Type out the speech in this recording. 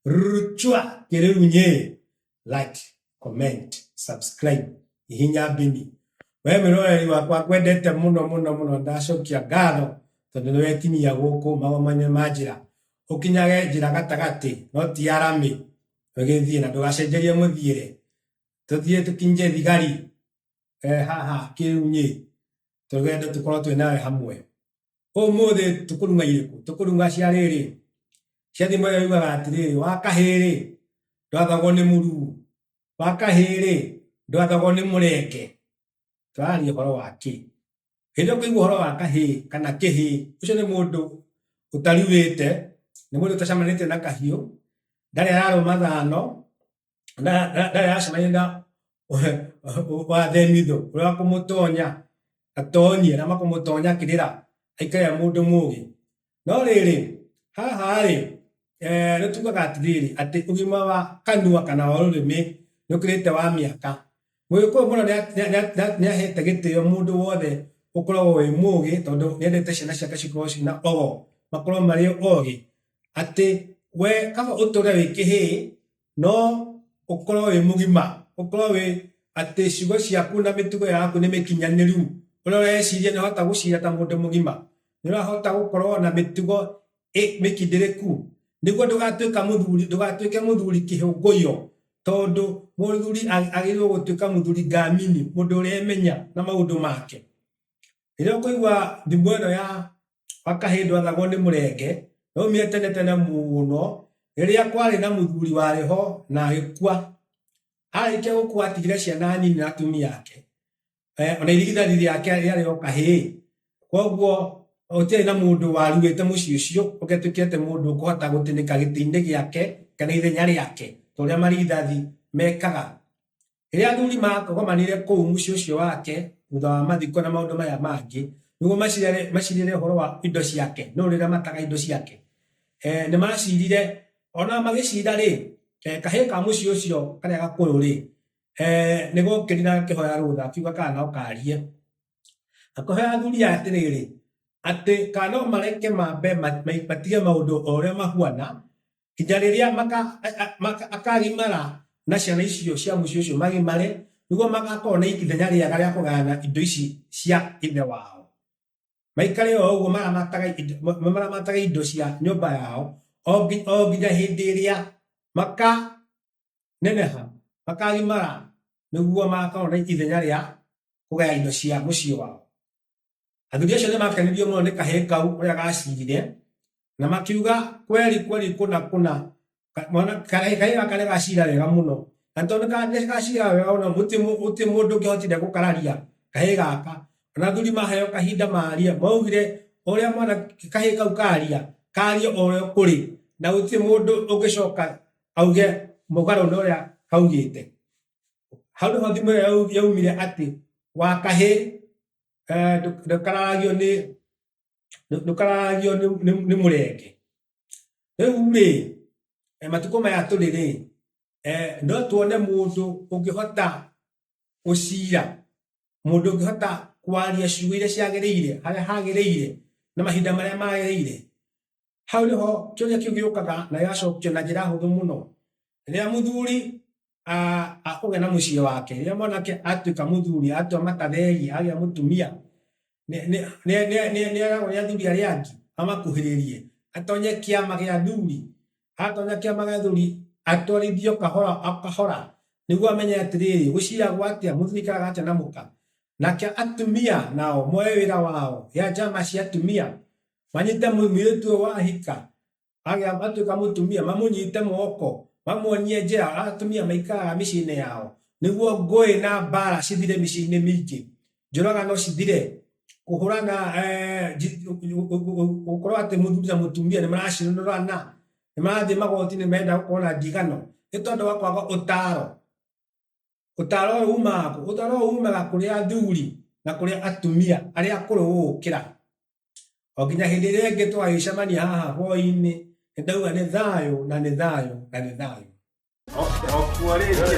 ruchwa kere unye like comment subscribe ihinya bini we miroreri wakwa kwendete muno muno muno ndacokia ngatho tondu niwe kinyia guku magomane ma njira ukinyage njira gatagati no ti ya rami ugithie na ndugacenjerie muthiire tuthie tukinje thigari eh, haha kirunyi tugende tukorwo twi nawe hamwe Ũmũthĩ tũkũrunga irĩkũ? Tũkũrunga cia rĩrĩ. Cia thimo ĩyo yugaga atĩrĩrĩ, wa kahĩrĩ ndwathagwo nĩ mũrugu, wa kahĩrĩ ndwathagwo nĩ mũrenge. Tũraaria ũhoro wa kĩ? Hĩndĩ ĩrĩa ũkũigua ũhoro wa kahĩĩ kana kĩhĩĩ, ũcio nĩ mũndũ ũtaruĩte, nĩ mũndũ ũtacemanĩtie na kahiũ, ndarĩ ararũma thano. ndayacemania na wa themitho ũrĩa wa kũmũtonya atonyie na makũmũtonya akĩrĩra aikare e mũndũ mũgĩ no rĩrĩ haha rĩ eh, nĩ tugaga atĩrĩrĩ atĩ ũgima wa kanua kana wa rũrĩmĩ nĩ ũkĩrĩte wa mĩaka mũgĩkũyũ mũno nĩ ahete gĩtĩo mũndũ wothe ũkoragwo wĩ mũgĩ tondũ nĩ endete ciana ciake cikorwo ciĩ na ogo makorwo marĩ ogĩ atĩ we kaba ũtũre wĩ kĩhĩĩ no ũkorwo wĩ mũgima ũkorwo wĩ atĩ ciugo ciaku na mĩtugo yaku nĩ mĩkinyanĩru ũrĩa ũreciria nĩ ũrahota gũcira ta mũndũ mũgima nĩ ũrahota gũkorwo na mĩtugo ĩ- mĩkindĩrĩku nĩguo ndũgatuĩka mũthuri ndũgatuĩke mũthuri kĩhũngũyo tondũ mũthuri ag- agĩrĩirwo gũtuĩka mũthuri ngamini mũndũ ũremenya na maũndũ make rĩrĩa ũkũigua thimo ĩno ya makahĩndwathagwo nĩ mũrenge, yaumire tene tene mũno, rĩrĩa kwarĩ na mũthuri warĩ ho na agĩkua. Arĩkia gũkua atigire ciana nini na atumia ake, eh, ona irigithari rĩake rĩarĩ o kahĩĩ. Koguo gũtiarĩ na mũndũ waruĩte mũciĩ ũcio ũngĩatuĩkire atĩ mũndũ ũkũhota gũtinĩka gĩtĩ-inĩ gĩake kana ithenya rĩake, ta ũrĩa marigithari mekaga. Rĩrĩa athuri makogomanire kũu mũciĩ ũcio wake thutha wa mathiko na maũndũ maya mangĩ nĩguo macirĩre ũhoro wa indo ciake no rĩrĩa mataga indo ciake eh, nĩ macirire ona magĩcira rĩ eh, kahĩĩ ka mũciĩ ũcio karĩa gakũrũ rĩ eh, nĩ gokĩri na gakĩhoya rũtha akiuga kana no karie akĩhoya athuri aya atĩrĩrĩ atĩ kana no mareke mambe matige maũndũ o ũrĩa mahuana kinya riria maka- a- a- maka- akagimara na ciana icio cia mũciĩ ũcio magimare nĩguo magakorwo na ikithenya rĩega rĩa kũgayana indo ici cia ithe wao maikare o ũguo maramataga indo- ma- ma- maramataga indo cia nyũmba yao o ngi- o nginya hĩndĩ ĩrĩa makaneneha makagimara nĩguo magakorwo na ithenya rĩa kũgaya indo cia mũciĩ wao Athuri acio nĩmakenirio mũno nĩ kahĩĩ kau ũrĩa gacirire, na makiuga kweri kweri kũna kũna, ka- mwana kahĩĩ kahĩĩ gaka nĩgacira wega mũno. Na tondũ nĩka- nĩgacira wega mũno, gũtirĩ mũ- gũtirĩ mũndũ ũngĩhotire gũkararia kahĩĩ gaka. Ona athuri maheo kahinda marie, maugire ũrĩa mwana kahĩĩ kau karia, karie o ũrĩa kũrĩ, na gũtirĩ mũndũ ũngĩcoka auge mũgarũ na ũrĩa kaugĩte. Hau nĩho thimo ĩyo yau- yaumire atĩ wa kahĩĩ eh, ndukararagio ni ndukararagio ni murenge riu ri eh, matuko maya turi ri eh, no tuone mundu ungihota gucira mundu ungihota kwaria ciugo iria ciagiriire haria hagiriire na mahinda maria magiriire Hau nĩho kĩũria kĩu gĩũkaga na gĩgacokio na njĩra hũthũ mũno. Rĩrĩa mũthuri akũgĩa na mũciĩ wake, rĩrĩa mwanake atuĩka mũthuri, atua makatheri, agĩa mũtumia, nĩeragwo nĩ athuri arĩa angĩ amakuhĩrĩrie, atonye kĩama gĩa athuri. Atonya kĩama gĩa athuri, atwarithio kahora o kahora nĩguo amenye atĩrĩrĩ, gũciragwo atĩa, mũthuri aikaraga atĩa na mũka. Nake atumia nao moe wĩra wao, ya njama cia atumia, manyite mũirĩtu ũyũ wahika agĩa atuĩka mũtumia mamũnyite moko mamuonie njĩra atumia maikaraga mĩciĩ-inĩ yao nĩguo ngũĩ na mbara cithire mĩciĩ-inĩ mingĩ njũraga no cithire kũhũrana eh, gũkorwo atĩ mũthuri na mũtumia nĩ maracinũrana nĩ marathiĩ magoti-inĩ menda gũkorwo na ndigano nĩ tondũ wa kwaga ũtaro ũtaro ũyũ umaga kũ? ũtaro ũyũ umaga kũrĩ athuri na kũrĩ atumia arĩa akũrũ gũgũkĩra o nginya hĩndĩ ĩrĩa ĩngĩ twagĩcemania haha hwaĩ-inĩ nĩ ndauga nĩ thayũ na nĩ thayũ na nĩ thayũ Okuo rĩngĩ.